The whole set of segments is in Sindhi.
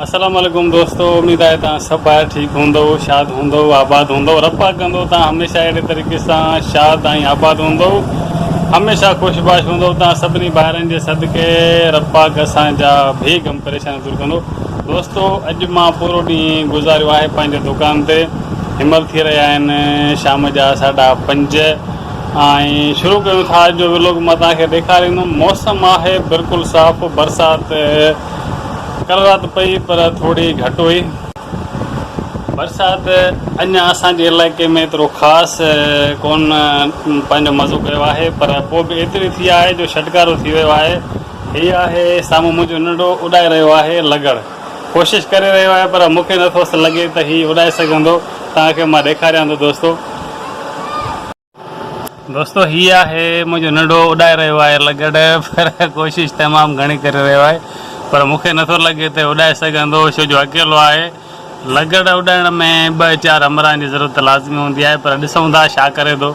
السلام عليڪم دوستو اميد آهي توهان سڀ ڀائر ٺيڪ هوندؤ شاد هوندؤ آباد هوندؤ رب پاڪ ڪندو توهان هميشه اهڙي طريقي سان شاد ۽ آباد هوندؤ هميشه خوش باش هوندؤ توهان سڀني ڀائرن جي صدقي رب پاڪ اسان جا بي غم پريشان دور ڪندو دوستو اڄ مان پورو ڏينهن گذاريو آهي پنهنجي دڪان تي همل ٿي رهيا آهن شام جا ساڍا پنج ۽ شروع ڪيون ٿا اڄ جو ولوگ مان توهان کي ڏيکاريندم موسم آهي بلڪل صاف برسات ڪل رات پئي پر ٿوري گهٽ هئي. برسات اڃا اسان جي علائقي ۾ ايترو خاص ڪونه پنهنجو مزو ڪيو آهي پر پوء به ايتري ٿي آهي جو ڇٽڪارو ٿي ويو آهي. هي آهي سامهون منهنجو ننڍڙو اڏائي رهيو آهي لگڙ. ڪوشش ڪري رهيو آهي پر مون کي نٿوس لڳي ته هي اڏائي سگهندو. توهان کي مان ڏيکاريان ٿو دوستو. دوستو هي آهي منهنجو ننڍو اڏائي رهيو آهي لگڙ پر ڪوشش تمام گهڻي ڪري رهيو آهي پر مون کي نٿو لڳي ته اڏائي سگهندو ڇو جو اڪيلو آهي لگڙ اڏائڻ ۾ ٻه چار همراهن جي ضرورت ته لازمي هوندي آهي پر ڏسون ٿا ڇا ڪري ٿو.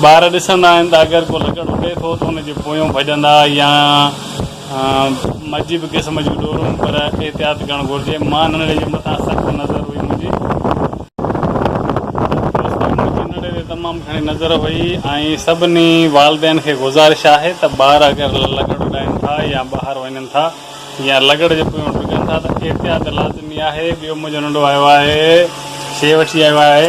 ٻار ڏسندا آهن ته اگر ڪو لڪڙ اڏي ٿو ته ان جي پويون ڀڄندا يا مجي به قسم جون ڏورون پر احتياط ڪرڻ گهرجي. مان ننڙي جي مٿان سخت نظر هئي منهنجي دوستن منهنجي ننڙي تي تمام گهڻي نظر هئي ۽ سڀني والدين کي گذارش آهي ته ٻار اگر لڪڙ اڏائين ٿا يا ٻاهر وڃن ٿا يا لڪڙ جي پويون ڊگن ٿا ته احتياط لازمي آهي. ٻيو منهنجو ننڙو آيو آهي شي وٺي آيو آهي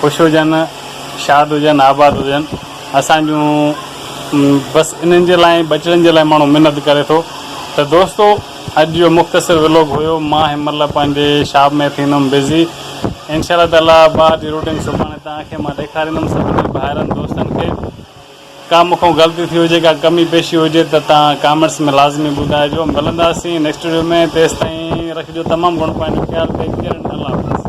خوش هجن، شاد هجن، آباد هجن، اسان جون بس انهن جي لاء ٻچڙن جي لاء ماڻهو منت ڪري ٿو ته دوستو اڄ جو مختصر ولوگ هيو مان هن مهل پنهنجي شاپ ۾ ٿيندم بزي انشاء الله تعالي ٻاهر جي روٽين سڀاڻي توهان کي مان ڏيکاريندم سڀني ڀائرن دوستن کي ڪا مون کان غلطي ٿي هجي ڪا ڪمي پيشي هجي ته توهان ڪامينٽس ۾ لازمي ٻڌائجو ملنداسين نيڪسٽ وڊيو ۾ تيستائين رکجو تمام گهڻو پنهنجو خيال ٽيڪ ڪيئر الله حافظ.